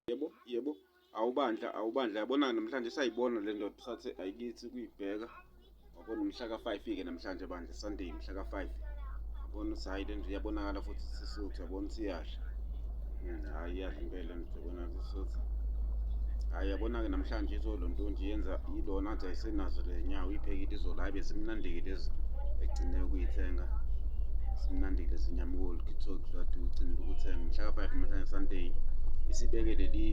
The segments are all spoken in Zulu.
yebo yebo awubandla awubandla yabona namhlanje sayibona le ndoda sathi ayikithi kuyibheka wabona umhla ka-five-ke namhlanje bandla sunday mhla ka-five yabona ukuthi hhayi le nto iyabonakala futhi sisuthu yabona ukuthi iyadla hmm, hhayi iyadla impela nto yabona sisuthu hhayi yabona-ke namhlanje izolo ntonje yenza yilona athi ayisenazo le nyawo iphekile izolo hayi besimnandike lezi egcine ukuyithenga simnandike sinyamukoli kithok lati ucinile ukuthenga mhla ka-five namhlanje sunday isibeke leli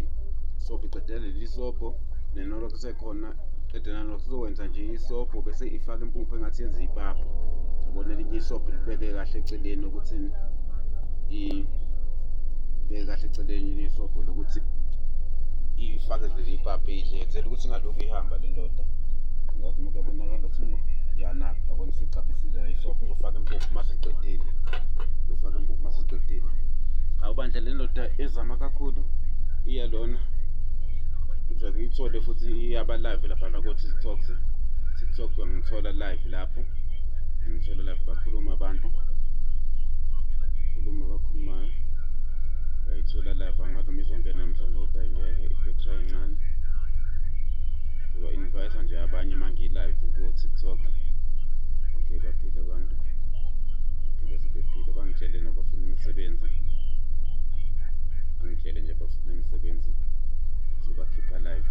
sobho iqedela leli sobho nenolo kusekhona qede nalo kuzokwenza nje isobho bese ifaka impuphu engathi yenza ipapa yabona elinye isobho libeke kahle eceleni ukuthi ibeke kahle eceleni isobho lokuthi ifake leli ibhabhe idle enzela ukuthi ingalokhu ihamba le ndoda ngathi umuntu yabonakala sini yanaka yabona isicaphisile isobho izofaka impuphu uma siqedile izofaka impuphu uma siqedile awubandla le ndoda ezama kakhulu iya lona ngizake iyithole futhi iyaba live lapha nakothi tiktok tiktok ngithola live lapho ngithole live bakhuluma abantu khuluma abakhulumayo ngayithola live angathi uma izongena mhlawumbe kodwa ingeke ibhetri incane ngiba-invayisa nje abanye uma ngilive ko-tiktok okay baphile abantu phile sebephile bangitshele nabafuna imisebenzi angitshele nje bafuna imisebenzi ngizobakhipha live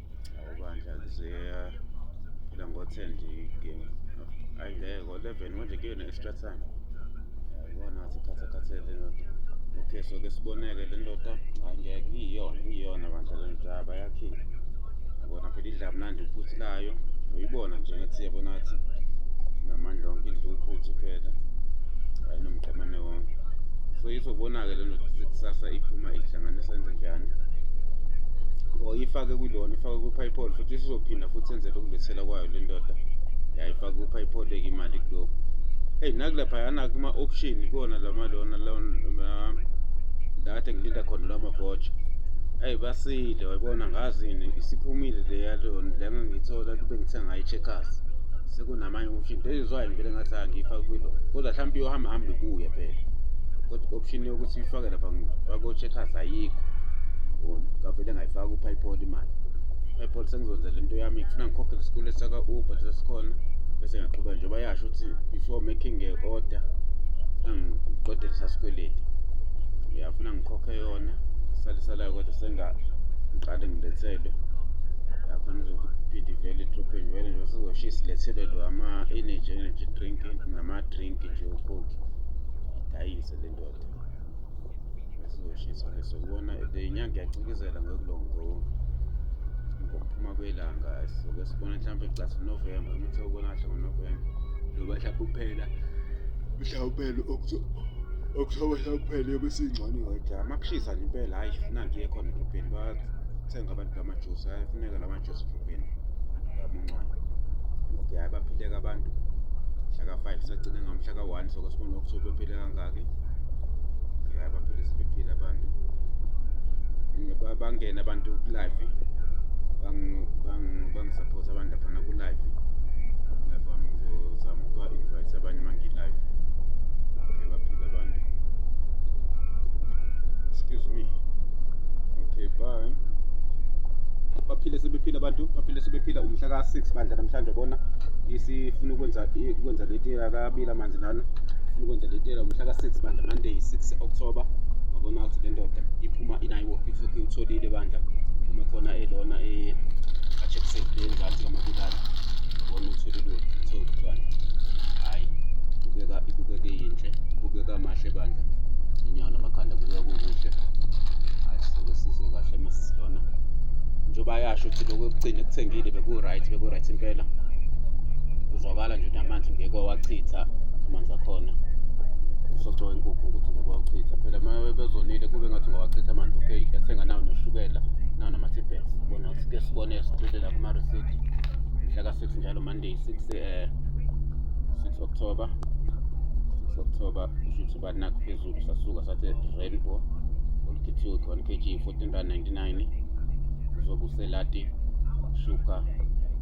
awubandla kuzeya phela ngo-ten nje igame ayi ngeke ngo-eleven manje kuyona extra time yabona ngathi khathakhathele ndoda okay so ke siboneke le ndoda ayi ngeke iyiyona iyiyona bandla le ndoda bayakhile yabona phela idla mnandi uphuthu layo uyibona nje ngathi yabona ngathi namandla onke idla uphuthu phela ayinomqemane so izobona-ke lento ukuthi kusasa iphuma ihlanganisa into njani or ifake kulona ifake kuphayipoli futhi isizophinda futhi enzele ukulethela kwayo le ndoda yayifake kuphayipoli-ke imali kulokhu eyi nakulephayana kuma-option kuwona lama lona data ngilinda khona lwamavotsha eyi basile wayibona ngazini isiphumile leya lona le ngangiyithola kube ngithenga i-checkers sekunamanye option into ezwayo ngeke ngathi angiyifaki kwilo kodwa mhlawumbe iyohamba hambe kuye phela kodwa option yokuthi uyifake lapha bako-checkers ayikho bona ngavele ngayifaka upaypol imali upaypol sengizonza le nto yami ngifuna ngikhokhele isikole saka-uber sesikhona bese ngiyaqhubeka njengoba yasho ukuthi before making a order funa ngiqedele sasikweleti uyafuna ngikhokhe ngiphe yona sale salayo kodwa sengiqale ngilethelwe yakhona izophinde ivele idrophe vele nje sizoshiya silethelwe lo ama-energy energy drink nama-drink nje ukhokhi idayise le ndoda sizoshiswa leso kubona le nyanga iyacikizela ngokulongo ngokuphuma kwelanga soke sibona mhlawumbe gcasi unovemba umuthi okubona kahle ngonovemba loba mhlawumbe uphela mhlawumbe uphela okuthokoza kuphele besingcane wethu amakushisa nje impela hayi funa ngiye khona edrobheni bathenga abantu bamajusi ayafuneka la majusi edrobheni amuncane okay hayi baphileka abantu mhla ka-five sagcine ngamhla ka-one soko sibona ukuthi bephile kangaki hayi baphile sebephile abantu bangene abantu kulive support abantu laphana ku live lapha ngizozama ukuba invite abanye mangi live okay baphila abantu excuse me okay bye baphile sebephila abantu baphile sebephila umhla ka 6 bandla namhlanje bona isifuna ukwenza ukwenza leti akabila amanzi lana ufuna ukwenza leti umhla ka 6 bandla monday 6 october wabona ukuthi le ndoda iphuma inayiwophi Futhi utholile bandla uma khona elona eh acheckse ngenzansi kamabulala. Ubona utholile uthola bandla. Hayi kubeka ibukeke yinhle. Kubeka mahle bandla. Inyawo namakhanda kubeka kukuhle. Hayi soke sizwe kahle uma sisilona. Njengoba yasho ukuthi lokho ekugcina ekuthengile beku right beku right impela. Uzwakala nje ukuthi amanzi ngeke wawachitha amanzi akhona. join kukho ukuthi ngiyowachitha phela uma bezonile kube ngathi ngowachitha amanzi okay yathenga nawo noshukela nawo nama-tibets bona ukuthi ke sibone siphilela kuma-receipt mhla ka-six njalo monday six eh, six october six october kusho ukuthi banakho phezulu sasuka sathi rainbow olukhithiwe khona kg fourteen rand ninety nine uzobe uselati shuka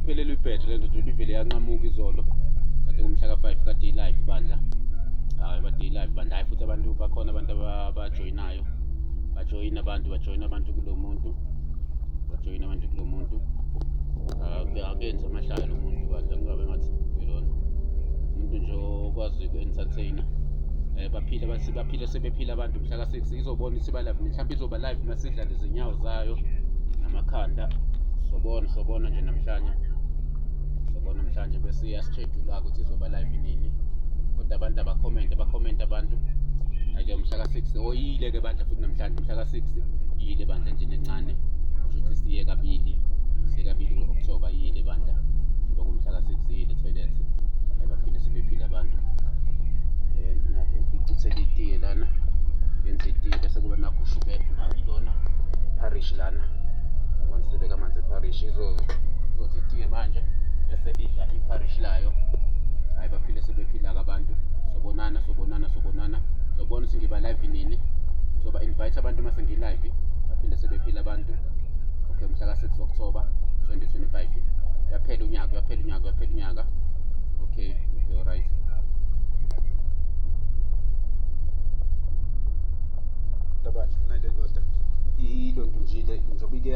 iphelelwe ibhetri le ndoda ibivele yanqamuka izolo kade ngomhla ka-five kade ilive bandla hayi kade ilive bandla hayi futhi abantu bakhona abantu abajoyinayo bajoyina abantu bajoyina abantu kulo muntu bajoyina abantu kulo muntu akenzi amahlaya lo muntu bandla kungabe ngathi ilona umuntu nje okwazi uku-entertainer um baphile baphile sebephile abantu mhla six izobona ukuthi iba live mhlawumbe izoba live uma sidla lezinyawo zayo namakhanda sobona sobona nje namhlanje sobona namhlanje bese iyasishedula ukuthi izoba live nini kodwa abantu abakhomente bakhomente abantu ake mhla ka-six oyile ke bandla futhi namhlanje mhla ka-six iyile bandla nje nencane kusho ukuthi siye kabili siye kabili ku-october iyile bandla njengoba kumhla ka-six iyile toilet ayibaphinde sibephile abantu ngicithele itiye lana yenza itiye bese kuba nakho ushukela lona parish lana abantu sebeka amanzi eparish izothi itiye manje bese idla iparish layo hhayi baphile sebephila-ke abantu sobonana sobonana sobonana sobona ukuthi ngiba live nini ngizoba invite abantu uma sengilive baphinde sebephila abantu okay mhla ka-six october 2025 uyaphela unyaka uyaphela unyaka uyaphela unyaka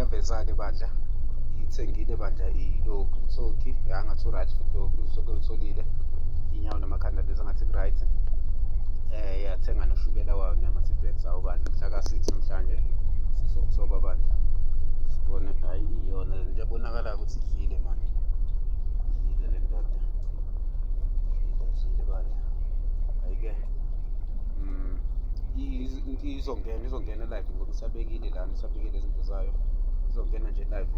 yaveza-ke bandla iyithengile bandla iyilokhu ithoki yangathi u-right futhi lokhu usoke ulitholile inyawo namakhanda lezi angathi ku-right um eh, yathenga noshukela wayo nama-tibet awo bandla mhla ka-six namhlanje sisokusoba bandla sibone hhayi iyona lento ebonakalayo ukuthi idlile manje izongena izongena live ngoba isabekile lana isabekile izinto zayo izongena nje live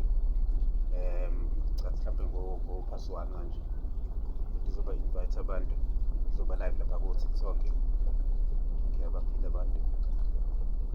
um cathi mhlawumbe ngophasi one manje ukuthi izoba invite abantu izoba live lapha ko-tiktok ngiyabaphila abantu